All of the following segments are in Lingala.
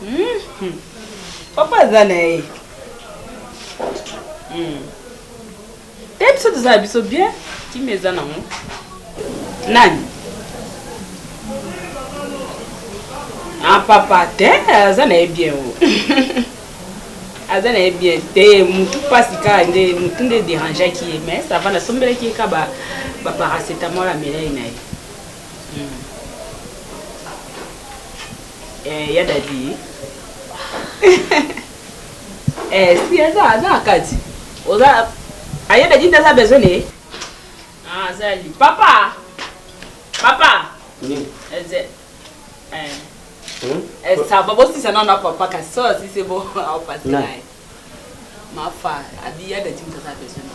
Hum papa aza na ye hmm. te biso toza na biso bien kimi eza nango nani a ah, papa te aza na ye bien o aza na ye bien te mutu mpasi kaka nde mutu nde derangeaki ye mais sava nasombelaki ye ka baparacetamol amelai na ye Eh, ya dadi eh, si aza aza na kati oza aya ah, dadi nde aza besoin ne ah, azali papa papa oui. Eze, eh. Hmm? Eh, ça va bosisa nano na papa kasi so asi se bo aopasi naye mafa abi ya dadi nde aza besoin na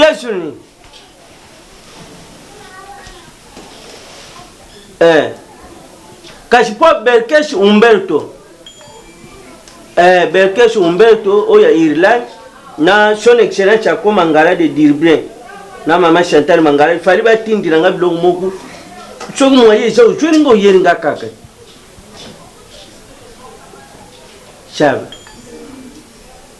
Yesu ni eh. kasi mpo berkes umberto eh, berkes umberto oyo ya irlande na son excellence yako mangala de dirblin na mama chantal mangala ifali batindila nga biloko moko soki mwaye eza ozweli nga oyeli nga kaka saba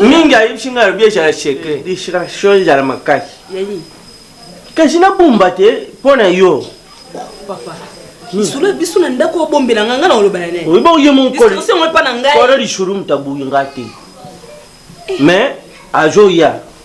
mingi ayebisi ngai alobi ezala secret distraction ezala makasi kasi nabomba te mpo na yo lisolo ya biso na ndako obombela ngai ngai na olobana naye oyebi oye monkolo epa na ngai kolo lisolo moto aboyi ngai te mais azoya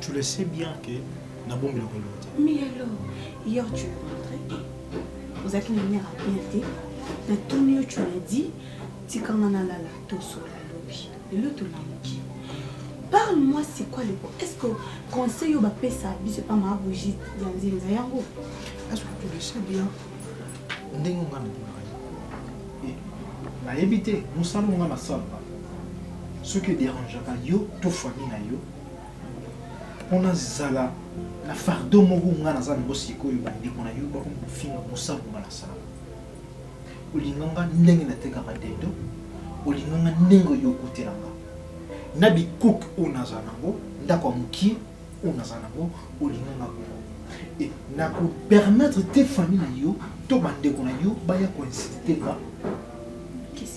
Tu le sais bien que na bombe loko lote. Mais alors, hier tu es rentré. Ozaki na mère à bien te. Na tuni yo tu m'as dit tikanga na lala to sola lobi. Lelo to lamuki. Parle-moi c'est quoi le problème Est-ce que conseil yo ba pesa biso pa ma bougie ya nzinza yango Est-ce que tu le sais bien ndenge nga na tuna nayebi te mosala nga na salaka soki ederangeaka yo to famille na yo mpona zala na fardo moko nga naza nango sikoyo bandeko na yo bako mofinga mosango nga nasala olinga nga ndenge natekaka dendo olinga nga ndenge oyo okotela nga na bikuke oyo naza nango ndako ya mokie oyo naza nango olinga nga bongo e nakopermettre te famille na yo to bandeko na yo baya koinsultema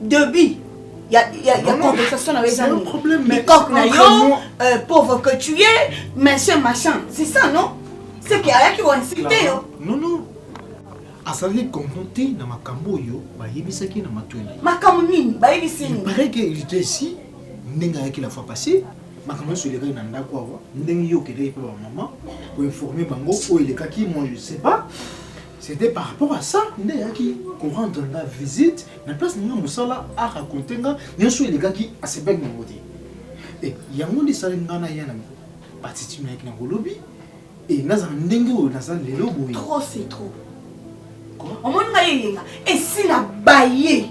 debut ya ya ya conversation na yo eza nini coque na yo euh, pauvre que tu es machin machin c'est ça non c'est que ayaki ko insulter yo non non azalaki comprendre te na makambo oyo bayebisaki na matoi na ye makambo nini bayebisi nini pareil que il était ici ndenge ayaki la fois passée makambo nyonso elekaki na ndako awa ndenge yo okendaki mpe bamama koinforme bango oyo elekaki moi je sais pas C'était par rapport à ça nde ayaki ko rendre nga visite na place na nga mosala a raconter nga nyonso elekaki asepaki na yango te e yango nde esali nga na ya na batiti nayaki na kolobi e nazala ndenge oyo naza lelo boye trop c'est trop omoni nga yeyenga esi na baye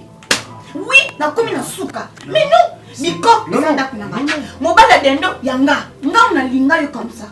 oui nakomi na suka mais non miko eza ndako na nga mobali ya dendo ya nga ngai nalinga yo comme ça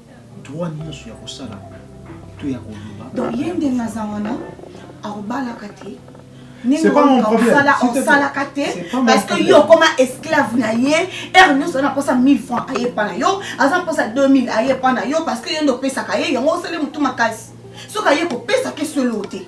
droit nyonso ya kosala to ya koloba. Donc ye ndenge aza wana akobalaka te osalaka te parce que yo okoma esclave na ye heure nyonso aza na mposa 1000 franc aye epa na yo aza na mposa 2000 aye epa na yo parce que yo nde opesaka ye yango osali motu makasi soki aye kopesa ke solo te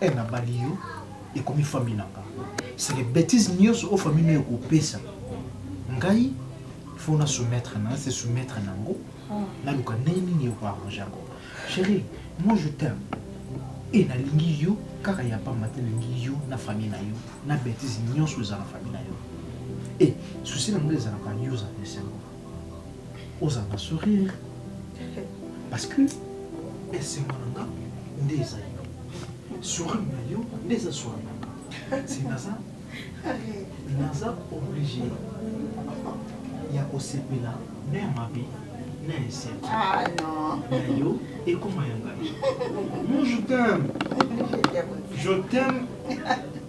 Eh na bali yo ekomi famille na nga c'est les betises nioso o famille no eko pesa ngai faut na soumettre na se soumettre na ngo na luka ndenge nini eko arranger ngo chérie moi je t'aime et na lingi yo kaka ya pamba te lingi yo na famille na yo na betises nioso eza na famille na yo et souci na nga ezalaka yo za pesa ngo oza na sourire parce que esengo na nga nde eza yo sourire na yo nde eza sourire na nga si naza naza oblige ya kosepela na ya mabe na ya esengo ah, na yo ekoma ya ngai mon je t'aime je t'aime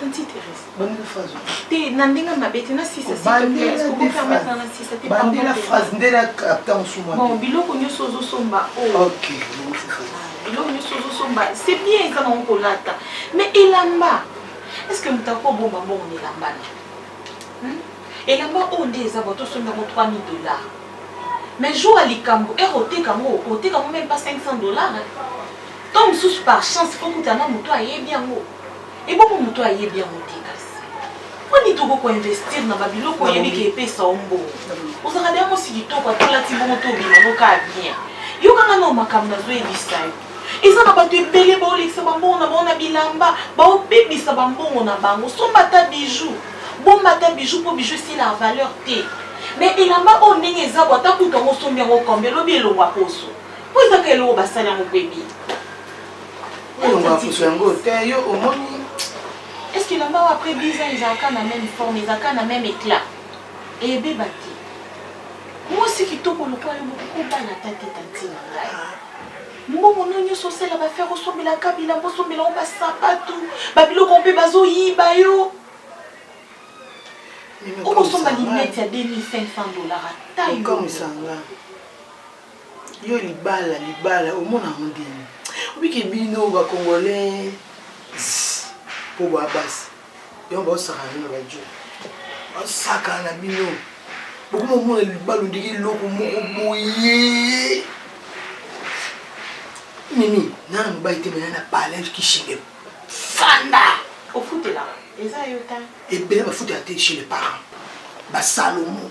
Tanti Thérèse. Bandela phrase. Te na ndenge mabe te na sisa s'il te plaît. Est-ce qu'on peut permettre na sisa te pardon. Bandela phrase nde na capta musuma. Bon biloko nyoso ozo somba oh. OK. Biloko nyoso ozo somba c'est bien eza na ko lata. Mais elamba. Est-ce que mutako bomba mbongo na elamba na? Hmm? Elamba oyo nde eza bato osomba yango 3000 dollars. Mais jour ya likambo ere oteka yango oteka yango même pas 500 dollars. Tant mosusu par chance fokutana moto ayebi yango. Ebongo moto oyo ayebi yango te kasi. Mpo nini tokoki koinvestir na babiloko oyebi ke epesa yo mbongo? Ozalaka deja mwasi kitoko ata olati bongo to obima no kaka bien. Yoka nga nao makambo nazoyebisa yo. Eza na bato ebele baolekisa bambongo na bango na bilamba, baobebisa bambongo na bango. Somba ata bijou, bomba ata bijou mpo bijou esilaka valeur te. Mais elamba oyo ndenge eza boye ata kutu yango osombi yango combien lobi elongwa poso. Mpo eza kaka eloko basali yango mpo ebima. est ce que na mbao après 10 ans ezalaka na même forme ezalaka na même éclat ebeba te mwasi kitoko lokola yo mokokobana ata te tanti na ngai mbongo no nyonso osala bafere osombelaka bilambo osombela ngo basapatu babiloko mpe bazoyiba yo okosomba linete ya 2500 dollar ata yo Yo libala libala omona yango ndenge obi ke bino ba congolais po ba basi yango ba osaka na ba djo ba saka na bino bokoma omona libala ondenge eloko moko boye mimi nana mobali te mena na palais kishimbe fanda ofutela eza yo ta ebele bafutela te chez les parents ba salomon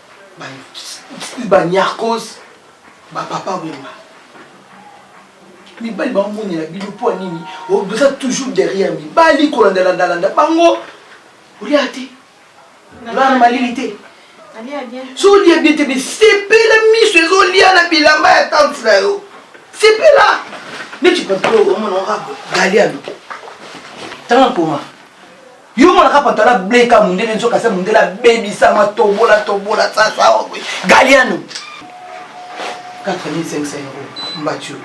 ba nyarcos ba papa wemba mibali baomonela bino mpo ya nini oza toujours derrière mibali kolandalandalanda bango olia te olaa na malili te so olia bie te bisepela miso ezolia na bilamba ya tante na yo sepela neti papa omona orabo galiano tanga nkoma yo monaka pantala ble ka mundele nzoka se mundele abebisama tobola tobola sasa galiano 4500 euro mbatio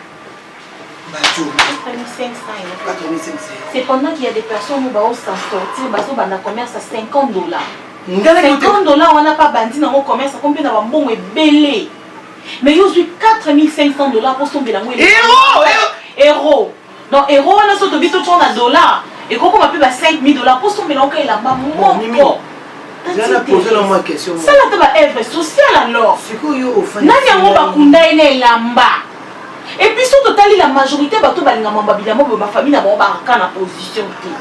mbatio 4500 c'est pendant qu'il y a des personnes où bao s'en sortir bazo banda commerce à 50 dollars 50 dollars wana pa bandi nango commerce akomi mpe na bambongo ebele mais yo ozwi 4500 dollars mpo osombela yango euro Donc euro wana so tobi to tona dollar ekoki koma pe ba 5000 dollars po sombela oka elamba moko. Zana poser la moi question. Sala ta ba œuvre sociale alors. Sikoyo ofani. Nani yango bakunda ye na elamba? Et puis surtout tali la majorité bato balingama babila mo ba famille na bango ba kana position te.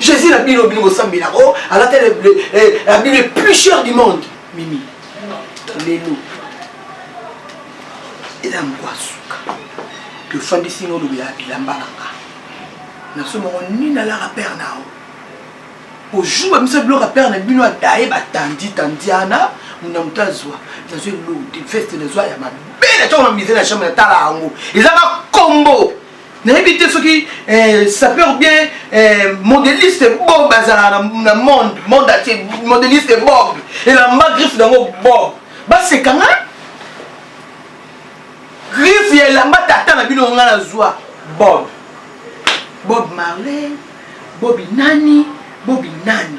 Jésus na bino bino bosambela o alata abino le plus cher du monde mimi lelo eza moko asuka tofandisi no olobela bilamba na nga naso moko nini alaka père na yo ojuba biso biloko ya père na bino adaye batandi tandiana muna moto azwa nazwa eloko te veste nazwa ya mabe na ntango na mise na chambre natala yango eza ka kombo Nayebi te soki eh, sapeur bien eh, modeliste bob bazalaka na monde monde atie modeliste bob elamba griffe nango bob baseka nga griffe ya elamba tata na bino nga nazwa bob bob marley bobi nani bobi nani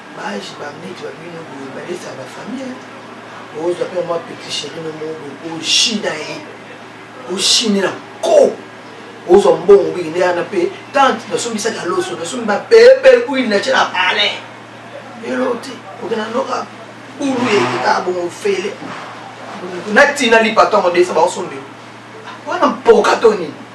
Ba age ba neti ba bino boye ba lesa ba famille hein. Ozwa pe mwa petit cherie no moko boye o china ye. O chine na ko. Ozwa mbongo biki nde ana pe tante na sombi saka loso na sombi ba pepe huile na tshela palais. Elote okena noka bulu ye ka bongo fele. Na tina lipa tongo desa ba osombela. Wana mpoka to nini?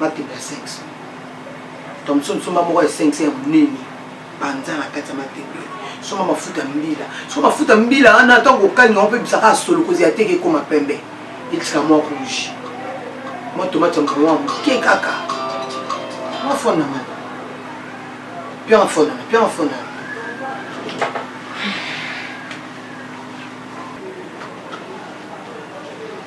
Mateka ya 500. Thomson nsomba moko ya 500 ya monene panza na kati ya mateka. Soma mafuta mbila. Soma mafuta mbila wana ntango okangi yango mpe bisaka solo kozela te ekoma pembe. Etika mwa rouge. Mwa tomate ya mokolo mwa moke kaka. Mwa fonda mwana. Pia mafonda, pia mafonda.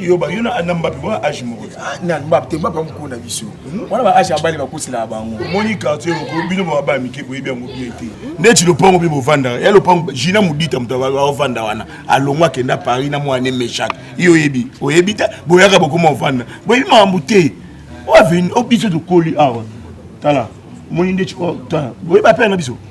yo ba yo na na mbape ba age moko ah, na mbape te mbape mukuna biso hmm? wana ba age abali bakosela bango omoni quartier oko bino ba ba mike boyebi yango bien te neti lopango mpe bovanda ya lopango jina modita moto aovanda wana alongo akenda paris na mwana mechak yo oyebi oyebi te boyaka bokoma ovanda boyebi makambo te oaveni o biso tokoli awa tala omoni ndeti tala boyebi apele na biso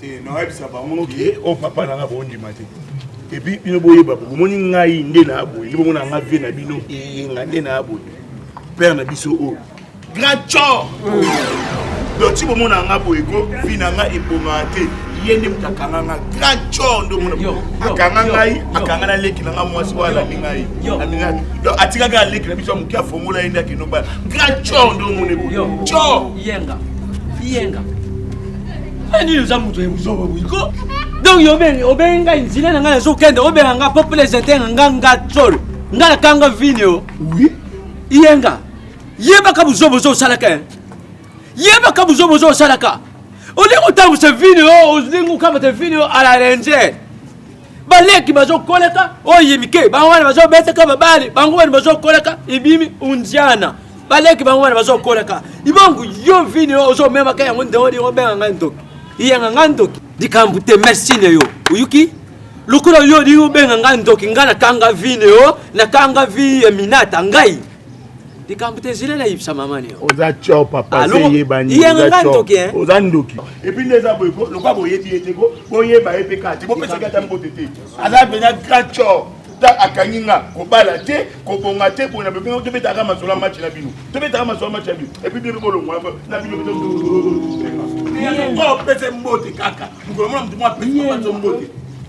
te nayebisa bango ke o oh, papa nanga bondima te epuis bino boyeba bomoni ngai nde na aboye nde bomona nga vie na bino eyenga nde na aboye père na biso oyo oh. grand cor doki bomona nga boye ko vi na nga ebomaka te ye nde moto akanga nga grand cor nde omona akanga ngai akanga na leki na nga mwasi oyo alandi ngai atikaka aleki na biso ya moke afongola ye nde akende obala Grand Cho ndo mone boye. Cho. Yenga. Yenga. Ani oza moto ya buzoba boye ko. Donc yo ben obengi ngai nzile na ngai nazo kende obenga ngai po plaisir te nga nga tsolo. Nga na kanga vino. Oui. Yenga. Yebaka buzoba ozo salaka. Eh. Yebaka buzoba ozo salaka. Olingi otambwisa vino olingi okamata vino ala ranger. baleki bazokoleka oyo mike bango wana bazobeteka babali bango wana bazokoleka ibimi undiana baleki bango wana bazokoleka ibongo yo vini oyo ozomemaka yango nde olingo obenga ngai ndoki iyanga ngai ndoki likambo te merci na yo oyuki lokola yo olingi obenga ngai ndoki ngai nakanga vini oyo nakanga vi ya minata ngai likambo te zilela yebisa mama nio oza tio papa se yebani yanga ndoki hein oza ndoki et puis neza boye ko lokola boyebi ye te ko boyeba ye mpe kaka te bopesaki ata mbote te aza mpenza grand tio ta akangi nga kobala te kobonga te pona bebe tobetaka masolo ya match na bino tobetaka masolo ya match na bino epuis bebe bolongwa na bino opese mbote kaka mokolo mona motu mwa pesi mbote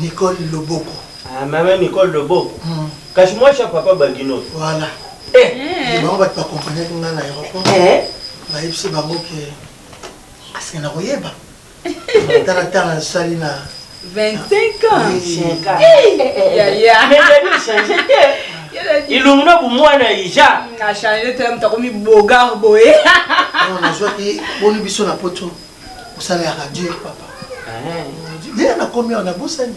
Nicole Loboko. Ah, maman Nicole Loboko. Mm. Kasi moi cha papa Bagino. Voilà. Eh, eh. bango bato bakompanaki ngai na aéroport eh. bayebisi bango ke asike na koyeba Tala tala sali na 25 ans. Yaya. Mais Gabi change te. Ilungu na bumwana ija. Na change te mtu akomi bogar boye. Non nazwaki boni biso na poto. Osalaka dur papa. Nde nakomi awa nabosani.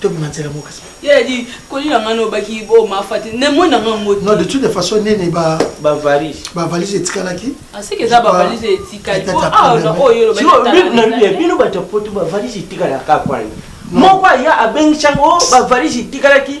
tobima nzela moko kasi ye adi koli na ngai nobaki bo mafati ne moi na ngai moti non de toute façon nene ba ba valise ba valise etikalaki aseke ah, eza ba valise etikali po awa na oyo olobaki bino bato ya poto ba valise etikalaka kwana moko aya abengisango ba valise etikalaki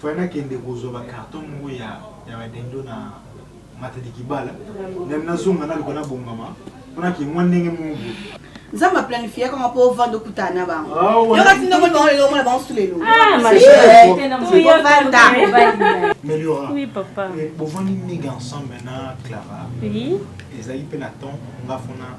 Fallait na kende kozua ba carton moko ya ya ba dendo na Matadi Kibala then na zonga na luka na bongama po na ke mwa ndenge moko boye. Nzambe a planifiaka nga po ovanda okutana na bango. Yoka ti ndenge omoni bango lelo omona bango sous le logo. Ah ma chérie. Ovanda. Meliora. Oui papa. Bovandi nige ensemble na Clara. Oui. Ezali pe na temps nga fona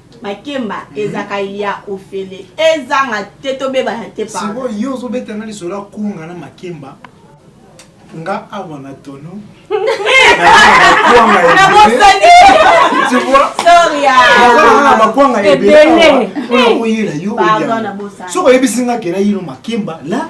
Makemba ezaka ya ofele ezanga te tobebana te pardon. Sikoyo yo ozo beta nga lisolo ya kwanga na makemba nga awa na tono na bakwanga ebele oyo oyela yo soki oyebisi nga ke nayino makemba la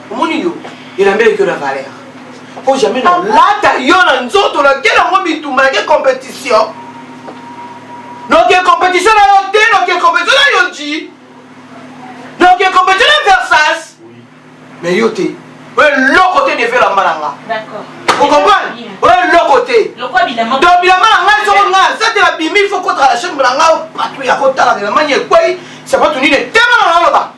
omoni yo elamba eleki na valeur po jamais na lata yo na nzoto olakeli yango bitumba yake compétition noke compétition na yo te noke compétition na yo ji noke compétition na versas mais yo te oyo eloko te neve elamba na nga okomprane oyo eloko te donc bilamba na nga ezoko nga sate na bimi fo kotala la chambre na nga patu ya kotalaka elamba nyekwei sapatu nini etema na naloba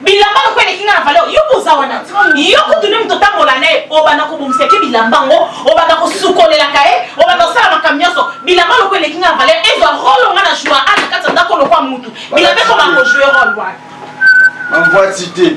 bilamba lokola eleki nga na valeur yo boza wana yo kutu nde moto otambola naye obanda kobongisa ke bilamba ngo obanda kosukolelaka ye obanda kosala makambo nyonso bilamba lokola eleki nga na valeur ezwa role nga na joua a na kati ya ndako lokola mutu bilamba ekobanda kojue role wana envoie cite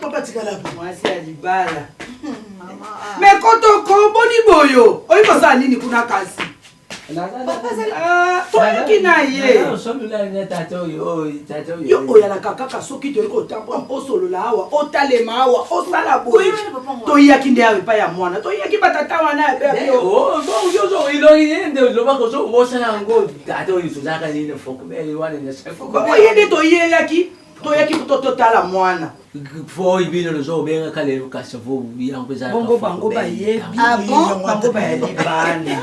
papa tikala mwasi ya libala me kotoko boni boyo oyi kosala nini kuna kasi toyoki na ye yo oyalaka kaka soki toyei kotambola osolola awa otalema awa osala boye toyaki nde awa epai ya mwana toyaki batata wana ya bebeoyozoiloyende olobaka ozobosana yango tata oyo tozalaka nini fokoye nde toyelaki toyaki kuto totala mwana foi bino lozo obengaka lelo kasi vo yango eza bongo bango bayebi ah bango bayebi bana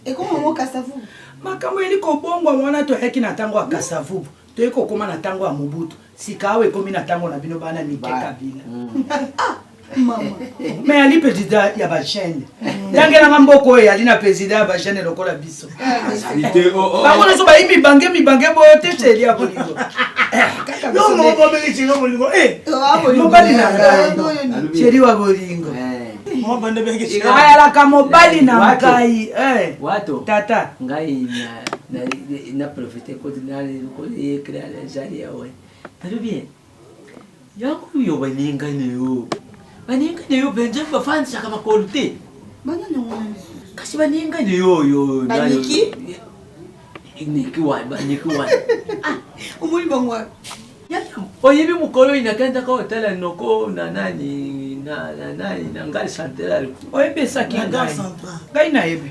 ekoma ngo kasavu makambo yeli kobongwa mwana toyaki na ntango ya kasavubu toyei kokóma na ntango ya mobutu sika awa ekomi na ntango na bino bana mike kabila mm. ah! mais ali président ya bachaine tangelanga mboka oyo eyali na président ya bachaine lokola biso bango nyonso bayi mibange mibange boyo te sheli ya bolingo mobali na ngai sheli wa bolingo ayalaka mobali na ngai tata ngai na profite kote na ekri ya jali yawe talobi Yango yo balingani yo balingani yo benjami bafandisaka makolo te kasi balingani yo yo baniki niki wa baniki wa ah, omoni bango oyebi mokolo oyo nakendaka otala noko na nani na nani na ngai central oyebisaki ngai ngai nayebi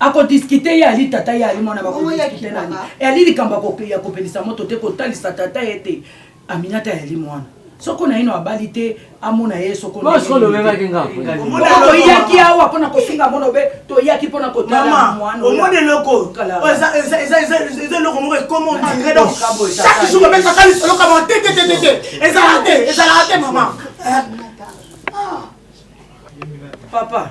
ako discuter ye ali tata ye ali mwana bako discuter nani ali likambo ya kopelisa moto te kotalisa tata ye te aminata yali mwana soko naino abali te amona ye sokoyaki awa mpona kofinga mona obe toyaki mpona kotaomona eloko eza eloko moko ekoma ondire donc chaque jour obetaka lisolo kama te te te te ezalaka te ezalaka te mama papa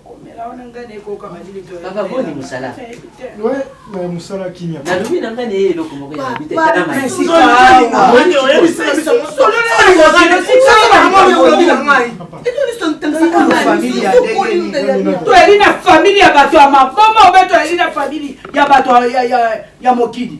papa boni mosala mosala kimia nalobi na ngai naye eloko moko elobi te tala toyali na famili ya bato ya maboma obe toyali na famili ya bato ya mokili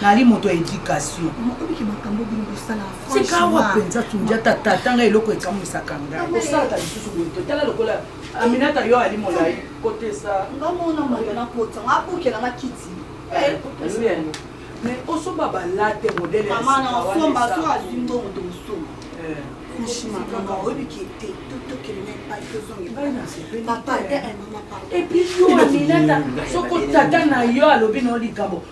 nali moto ya education sikawa mpenza tundiata tata ngai eloko ekamwisaka ngaiosalaka lisusu boye te tala lokola aminata yo ali molai kotesa mais osomba balate modele epuis yo aminata soko tata na yo alobi na yo likambo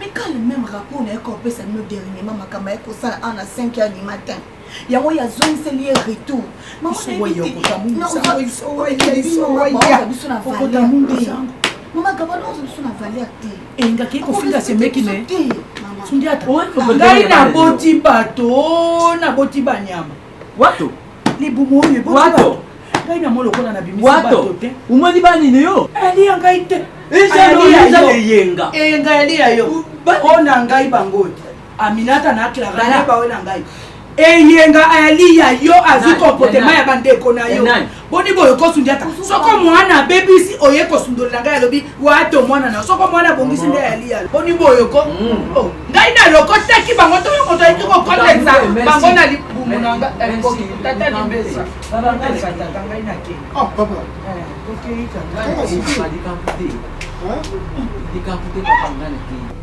Mais quand le même rapport na ye ko pesa bino dernièrement makamba ya ko sala en à 5 heures du matin. Yango ya zongiseli ye retour. Maman na ye bino biso na valeur. Maman gabana ozo biso na valeur te. Enga ki ko finga semeki ne. Ngai naboti bato naboti banyama Wato. Libumu oyo eboti wato. Ngai na mwa lokola na bimisi bato te. Omoni banini yo? Aliya ngai te. Eza leyenga. Eye ngai aliya yo. Oyo na ngai bango oyo. Aminata na Clara na bawe na ngai. Eyenga aliya yo azwi comportement ya bandeko na yo. boni boye okosundiata soko mwana abebisi oye kosundolela ngai alobi wato mwana na soko mwana abongisi nde yaliyalo boni boye ko mm. oh, ngai nalokotaki bango to yo moto ayiki kokotenza bango na libumu na nga eh, tata libesa tata ngai nake oh, eh, likambo te papa ngai nakei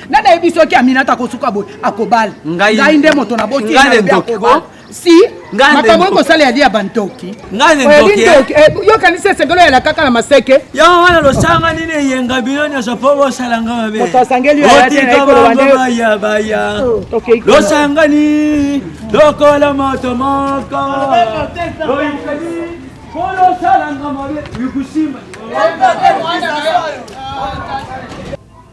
nani ayebi soki aminata akosuka boye akobala ngai nde moto na boti akobala si makambo oyo kosala yali ya bantoki yokanisi esengelo yala kaka na maseke yo wana losanga nini eyenga bino nyonso mpo bosala nga mabeotikamabaya losangani lokola moto moko bolosalanga mabe likusimba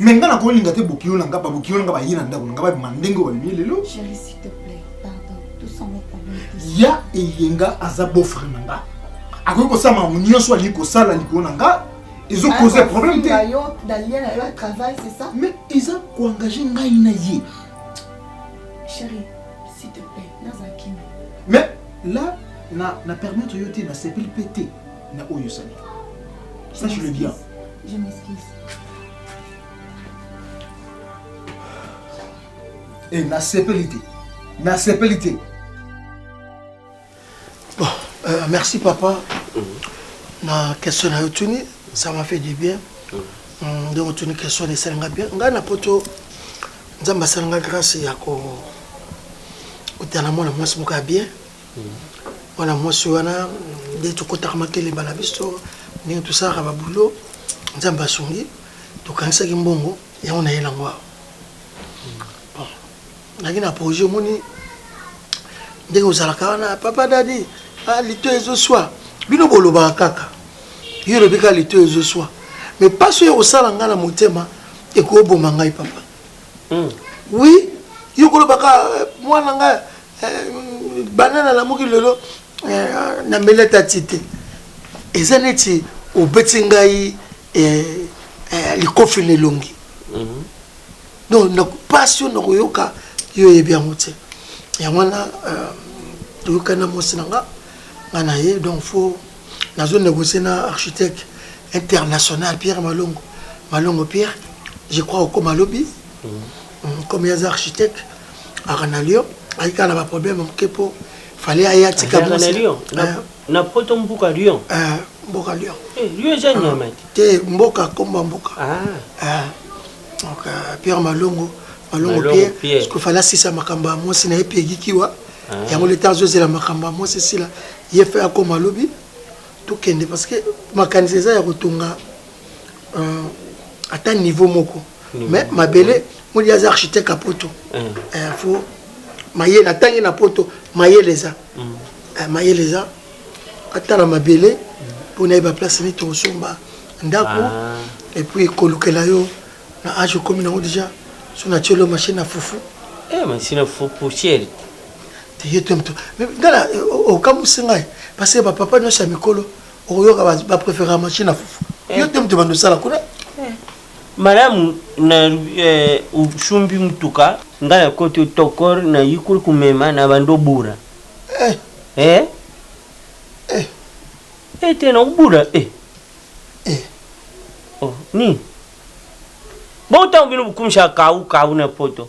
me nga na kolinga te bokiyo na nga babokiyo na nga baye na ndako na nga babima ndenge oyo babimi lelo ya eyenga aza bofre na nga akoki kosala makambo nyonso alingi kosala likolo na nga ezo cause problème te mais eza koengage ngai na ye mais là na permettre yo te nasepeli mpe te na oyo osali sache le bien je m'excuse e eh, nasepeli te nasepeli te bon euh, merci papa mhm. na question na yo tuni ça m'a fait du bien mhm. mm, donc tuni question esali nga bien ngai na poto nzambe asali nga grâce ya ko otala mwana mwasi moko ya bien Mwana mwasi wana nde tokotaka makelemba na biso ndenge tosalaka ba boulot nzambe asungi tokanisaki mbongo yango na ye na ngwa bon naki na projet omoni ndenge ozalaka wana papa dadi ah, lito ezoswa bino bolobaka kaka yo olobi kaka lito ezoswa mais mpasi oyo kosala ngai na motema ekoboma ngai papa Oui, yo koloba ka mwana nga eh, banana lamuki lelo eh, na mele tati te. Eza neti obeti ngai eh, eh, likofi na elongi. Mhm. Donc na pasi yo nakoyoka yo yebi yango te. Yango wana euh, toyokana mwasi na nga nga na ye donc faut Nazo negocier na architecte international Pierre Malongo. Malongo Pierre, je crois okoma lobi. Mm. Comme il y a architecte, Aranalio, il y a un problème pour fallait aller à Tika. Aranalio, na poto mbuka Lyon. Eh, mbuka Lyon. Eh, Lyon j'ai une mec. Te mboka komba mbuka. Ah. Eh. Donc euh, Pierre Malongo, Malongo Pierre, parce qu'il fallait sisa makamba moi sina epi egikiwa. ah. yango leta azozela makambo ya mwasi esila ye fe akoma lobi tokende parce que makanisi eza ya kotonga euh, ata niveau moko mais mabele modi aza architecte ya poto ah. eh, fo mayele atangi na poto mayele eza mm. eh, mayele eza atala mabele mpo mm. nayeba place nini tokosomba ndako ah. epuis kolukela yo Na age okomi nango deja so na tiolo machine na fufu. Eh machine na fufu poussière. Tiye to mto. Mais ngala okamusi ngai parce que ba papa nyosa mikolo okoyoka ba, ba préférer machine na fufu. Eh. Yo te mto bando sala kuna. Eh. Malamu na eh, usumbi mutuka ngala koto tokor na yikul kumema na bando bura. Eh. Eh. Eh. Eh te na ubura eh. eh oh nini bo tango bino bokumisa kawu kawu na poto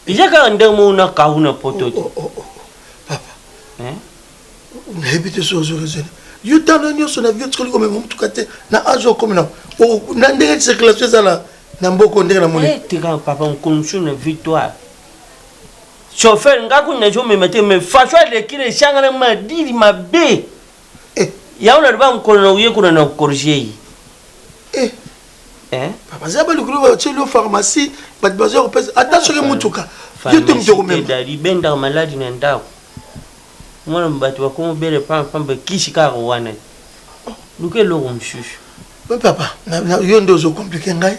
eza kaka ndenge moko na kawu na poto te oh, oh, oh, papa eh? nayebi te soki ozo raisonne yo talo nyonso na bio tikoli komema motuka te na age okomi na na ndenge circulation ezala na mboko ndenge na moni eh, tika papa mokomisu na victoire chauffeur nga kuna nazomema te mais façon alekile esangana madili mabe eh. Yango na loba mokolo na uye kuna na corriger ye eh. eh. Papa za ba lukulu ba tshelo pharmacie ba bazo ko pesa ata soki ah, mutuka yo te mutu ko mema dali benda maladi na ndako mwana bato bakomo bele pamba pamba kisi kaka wana luka eloko mosusu papa yo nde ozo komplike ngai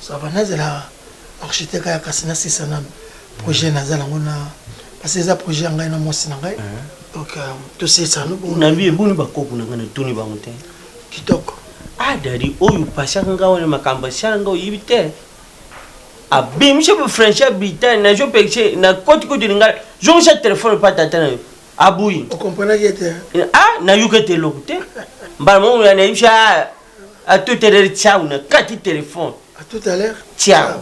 Ça va nazela architecte aya kasi na sisa nanu projet naza nango na parce eza projet ya ngai na mwasi na ngai donc euh, tosilisa yango bongo na vie eboni bakopo na ngai natuni bango te kitoko ah dadi oyo pasaka ngai wana makambo asala ngai oyebi te abimisi bafranchi abita nazopekise na koti koti lingai zongisa telefone pa tata na yo abuyi okomprenaki ete ah nayoki ete eloko te mbala moko nayebisa À tout à l'heure, ciao, na kati téléphone. À tout à l'heure. Ciao.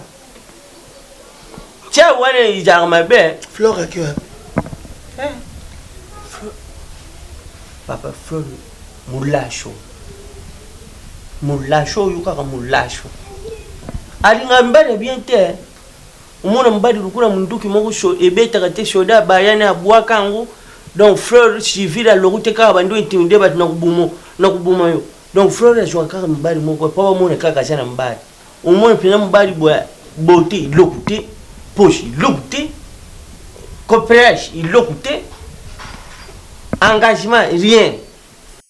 Ciao, wana izalaka mabe. Flore aki wapi? Eh. Papa Flore mulasho. Mulasho oyo kaka mulasho. Alinga mbele bien te. Omona mobali lokola munduki moko sho ebetaka te soda abaya naye abuaka yango donc fleur civile aloku te kaka abandi o intimide batu nakobomo nakoboma yo donc fleur azuaka kaka mibali moko boye po bamona kaka aza na mobali omoni penza mobali boye beaute eloko te poche eloko te cooperage eloko te engagement rien.